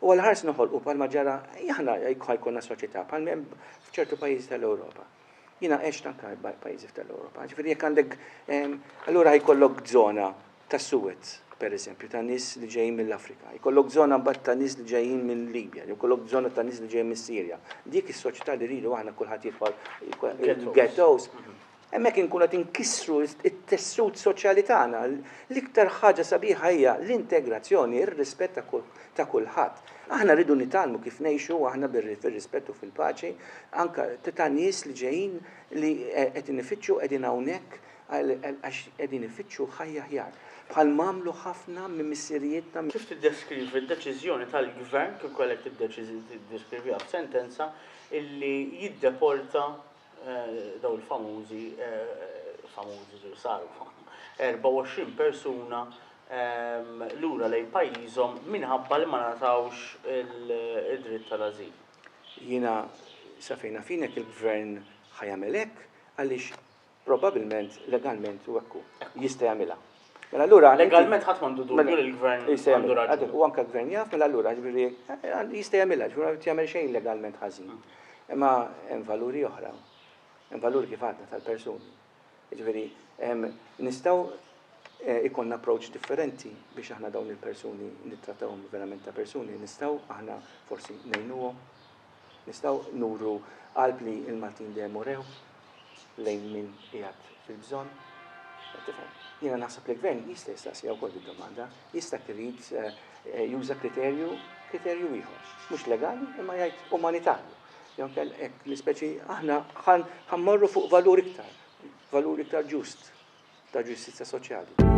U għal ħars noħolqu bħalma ġara, aħna jkollna soċjetà bħal hemm f'ċertu pajjiżi tal-Ewropa. Jiena għext anke pajjiżi tal-Ewropa. Ġifieri jekk għandek allura jkollok żona tas-Suez, pereżempju, ta' nies li ġejjin mill-Afrika, jkollok żona mbagħad ta' nies li ġejjin mill-Libja, jew ikollok żona ta' nies li ġejjin mis-Sirja. Dik is-soċjetà li rridu aħna kulħadd jidħol il-ghettos, hemmhekk inkunu qed inkissru t-tessut soċjali tagħna. L-iktar ħaġa sabiħa hija l-integrazzjoni, ir-rispett ta' kulħadd. Aħna rridu nitgħallmu kif ngħixu aħna fir-rispett u fil-paċi anke ta' nies li ġejjin li qed inifittxu qegħdin hawnhekk Għax qegħdin ifittxu ħajja aħjar, bħal m'għamlu ħafna minn missirijietna. Kif tiddeskrivi d-deċiżjoni tal-Gvern, kif kellek tiddeskriviha f'sentenza, illi jiddeporta dawn il-famużi, famużi li saru famużi, 24 persuna lura lejn pajjiżhom minħabba li ma ngħatawx id-dritt tal-ażil? Jiena, sa fejn naf jien, jekk il-Gvern ħa jagħmel hekk, għaliex Probabilment legalment u hekk hu. Jista' jagħmilha. Mela allura legalment ħadd m'għandu dubju mela- li l-gvern jista' għandu jagħmilha. raġuni. Għadu, U anke l-gvern jaf, mela allura ġifieri eh, jista' jagħmilha, ġifieri ma jrid jagħmel xejn legalment ħażin. Imma hemm valuri oħra. Hemm valuri kif għadna tal-persuni. Ġifieri em, nistgħu eh, ikonna approach differenti biex aħna dawn il-persuni nittrattawhom verament ta' persuni, nistgħu aħna forsi ngħinuhom, Nistgħu nuru qalb li l-Maltin dejjem urew lejn min qiegħed fil-bżonn. Tifhem? Jiena naħseb li l-Gvern jista' jistaqsija wkoll bid-domanda, jista' irid eh, juża kriterju kriterju ieħor, mhux legali imma jgħid umanitarju. Jew kell hekk l-ispeċi aħna ħammorru fuq valur iktar, valur iktar ġust ta' ġustizja soċjali.